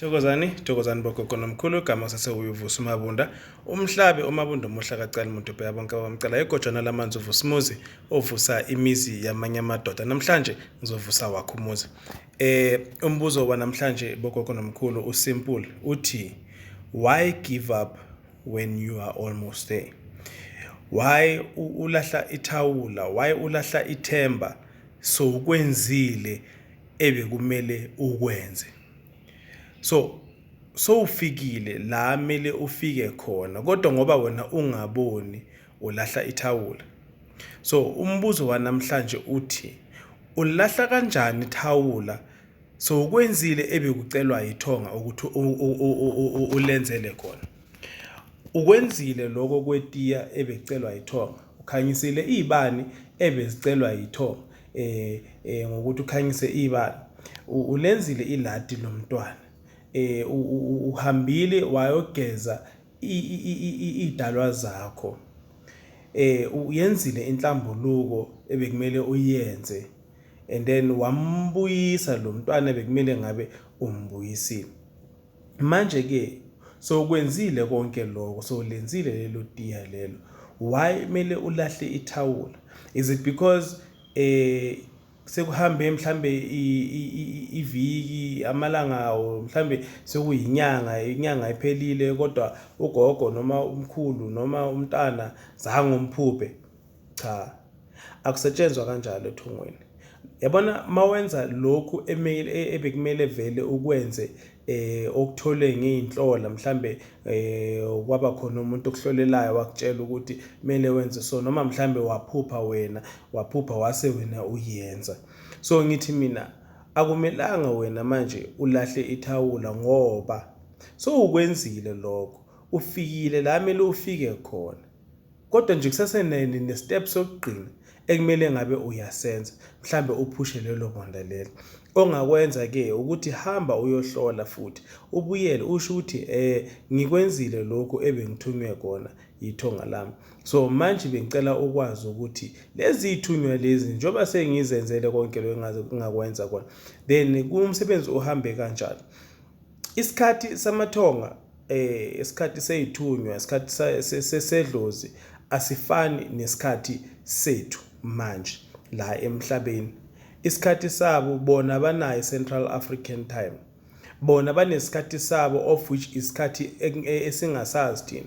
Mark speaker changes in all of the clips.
Speaker 1: Thokozani, thokozani bogogo nomkhulu igama sase uyovusa umabunda. Umhlabe umabunda omuhle akacali muntu bheka bonke abamcela egojana lamanzi uvusa umuzi ovusa imizi yamanye amadoda. Namhlanje ngizovusa wakho umuzi. Eh umbuzo wanamhlanje bogogo nomkhulu usimple uthi why give up when you are almost there? Why ulahla ithawula? Why ulahla ithemba? So ukwenzile ebekumele ukwenze. so sowufikile la mele ufike khona kodwa ngoba wena ungaboni ulahla ithawula so umbuzo wanamhlanje uthi ulahla kanjani ithawula so ukwenzile ebekucelwa yithonga ukuthi ulenzele khona ukwenzile lokho kwetiya ebecelwa yithonga ukhanyisile izibani ebezicelwa yithonga eh, eh ngokuthi ukhanyise ibala ulenzile iladi lomntwana eh uhambile wayogeza idalwa zakho eh uyenzile inhlambuluko ebekumele uyenze and then wambuyisa lo mntwana bekumele ngabe umbuyisile Manje-ke, sowukwenzile konke lokho, sowulenzile lelo tiya lelo, why kumele ulahle ithawula? Is it because eh sekuhambe mhlambe iviki amalanga awo mhlambe sekuyinyanga inyanga iphelile kodwa ugogo noma umkhulu noma umntana zange umphuphe Cha. Akusetshenzwa kanjalo ethungweni. Yabona mawenza lokhu emele e, ebekumele vele ukwenze eh okuthole ngeinhlola mhlambe eh kwaba khona umuntu okuhlolelayo wakutshela ukuthi kumele wenze so noma mhlambe waphupha wena waphupha wase wena uyenza so ngithi mina akumelanga wena manje ulahle ithawula ngoba so ukwenzile lokho ufikile la mele ufike khona Kodwa nje kusase ne-step sokugcina ekumele ngabe uyasenza mhlambe uphushe lelo bonda lelo ongakwenza ke ukuthi hamba uyohlola futhi ubuyele usho ukuthi eh ngikwenzile lokho ebengithunywe kona yithonga lami so manje bengicela ukwazi ukuthi lezi ithunywa lezi njengoba sengizenzele konke lokho ngingakwenza kona then kumsebenzi uhambe kanjani Isikhathi samaThonga, eh, isikhathi seyithunywa, isikhathi sesedlozi asifani nesikhathi sethu manje la emhlabeni. Isikhathi sabo bona banayo Central African time. Bona banesikhathi sabo of which isikhathi e, esingasazi thina.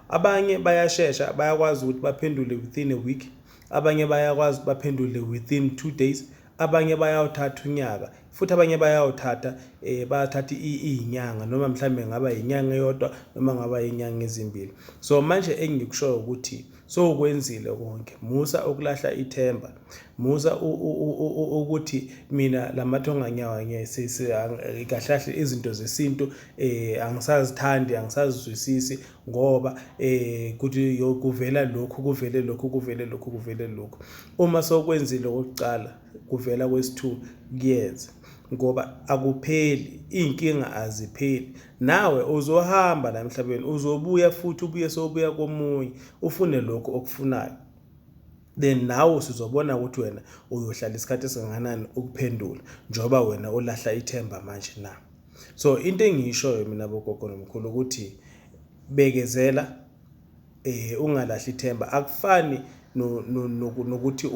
Speaker 1: Abanye bayashesha bayakwazi ukuthi baphendule within a week, abanye bayakwazi baphendule within two days, abanye bayawuthatha unyaka. futhi abanye bayawuthatha eh bayathatha izinyanga noma mhlambe ngaba inyanga eyodwa noma ngaba inyanga ezimbili so manje engikushoyo ukuthi so ukwenzile konke musa ukulahla ithemba musa ukuthi mina lamathonga nyawa ngiyasihlahla izinto zesintu eh angisazithandi angisazizwisisi ngoba eh kuthi kuvela lokhu kuvele lokhu kuvele lokhu kuvele lokhu uma sokwenzile okokuqala kuvela kwesithu kuyeza ngoba akupheli iy'nkinga azipheli nawe uzohamba la emhlabeni uzobuya futhi ubuye sobuya komunye ufune lokhu okufunayo then nawe usuzobona ukuthi wena uyohlala isikhathi esingakanani ukuphendula njengoba wena ulahla ithemba manje na so into engiyishoyo mina bogogo nomkhulu ukuthi bekezela eh ungalahli ithemba akufani nokuthi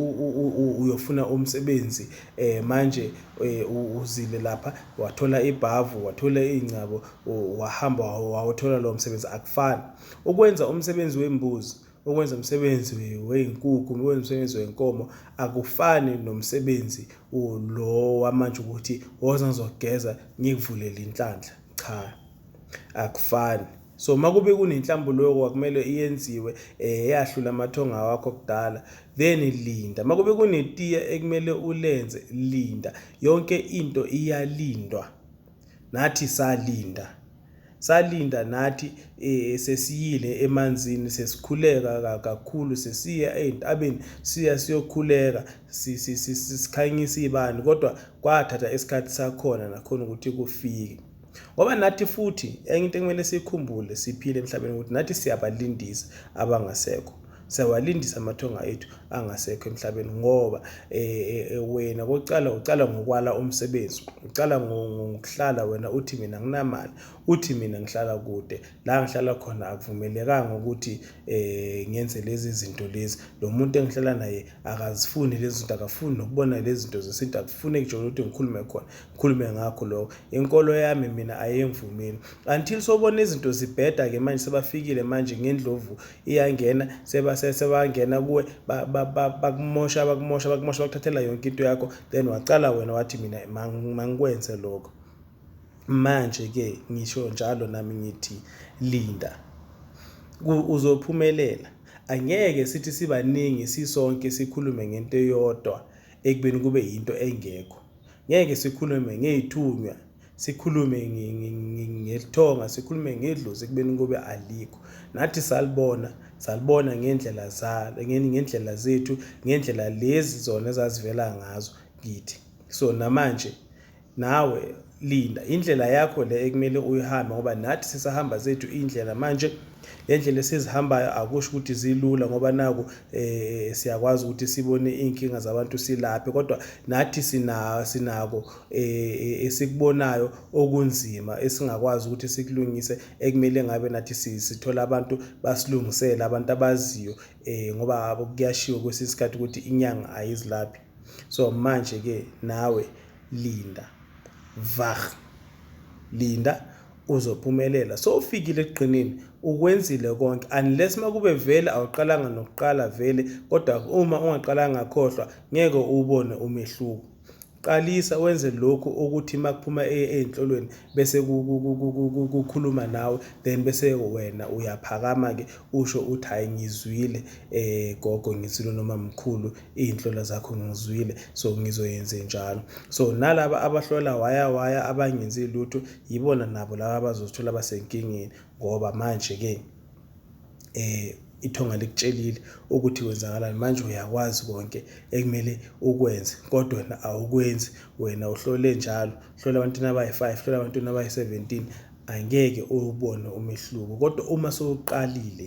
Speaker 1: uyofuna umsebenzi eh manje eh, uzile lapha wathola ibhavu wathola iy'ngcabo wahamba wawuthola lowo msebenzi akufani ukwenza umsebenzi wembuzi ukwenza umsebenzi wey'nkukhu ukwenza umsebenzi wenkomo akufani nomsebenzi lo wamanje ukuthi woza ngizogeza ngikuvulele inhlanhla cha akufani So makube kunenhlambuluko akumele iyenziwe eh yahlula amathonga wakho kudala then linda makube kunetiya ekumele ulenze linda yonke into iyalindwa nathi salinda salinda nathi eh, sesiyile emanzini sesikhuleka kakhulu sesiya ezintabeni siya siyokhuleka sikhanyisa ibani kodwa kwathatha isikhathi sakhona nakhona ukuthi kufike ngoba nathi futhi enye into ekumele siyikhumbule siphile emhlabeni ukuthi nathi siyabalindisa abangasekho siyawalindisa amathonga ethu angasekho emhlabeni ngoba eh, eh, wena kokuqala uqala ngokwala umsebenzi uqala ngokuhlala wena uthi mina nginamali uthi mina ngihlala kude la ngihlala khona akuvumelekanga ukuthi eh ngenze lezi zinto lezi lo muntu engihlala naye akazifuni lezi zinto akafuni nokubona lezi zinto zesintu akufuni ngisho ukuthi ngikhulume khona Khulume ngakho lokho. Inkolo yami mina ayengivumeli. Until sobona izinto zibheda ke manje sebafikile manje ngendlovu iyangena seba sebangena kuwe bakumosha bakumosha bakumosha bakuthathela yonke into yakho then waqala wena wathi mina mangikwenze lokho. Manje ke ngisho njalo nami ngithi linda. Uzophumelela. Angeke sithi sibaningi sisonke sikhulume ngento eyodwa ekubeni kube yinto engekho. Ngeke sikhulume ngey'thunywa, sikhulume ngelithonga, sikhulume ngedlozi ekubeni kube alikho. Nathi salibona, salibona ngendlela zalo, ngendlela zethu, ngendlela lezi zona ezazivela ngazo kithi. So namanje nawe linda indlela yakho le ekumele uyihambe ngoba nathi sisahamba zethu indlela manje le ndlela esizihambayo akusho ukuthi zilula ngoba naku eh siyakwazi ukuthi sibone inkinga zabantu silaphe kodwa nathi sina sinako eh, eh esikubonayo okunzima esingakwazi ukuthi sikulungise ekumele ngabe nathi sithola abantu basilungisele abantu abaziyo eh ngoba kuyashiwo kwesinye isikhathi ukuthi inyanga ayizilaphi so manje ke nawe linda vah linda uzophumelela so ufikile ekugqinini ukwenzile konke unless makube vele awuqalanga nokuqala vele kodwa uma ungaqalanga khohlwa ngeke ubone umehluko qalisa wenze lokhu ukuthi makuphuma ezinhlolweni bese kukhuluma nawe then bese wena uyaphakama ke usho uthi hayi ngizwile eh gogo ngizwile noma mkhulu iy'nhlolo zakho ngizwile so ngizoyenze njalo so nalaba abahlola waya waya abangenzi lutho yibona nabo laba abazozithola basenkingeni ngoba manje-ke eh ithonga likutshelile ukuthi kwenzakalani manje uyakwazi konke ekumele ukwenze kodwa wena awukwenzi wena uhlole njalo hlola abantwana abayi-five hlola abantwana abayi-seventeen angeke uwubone umehluko kodwa uma sowuqalile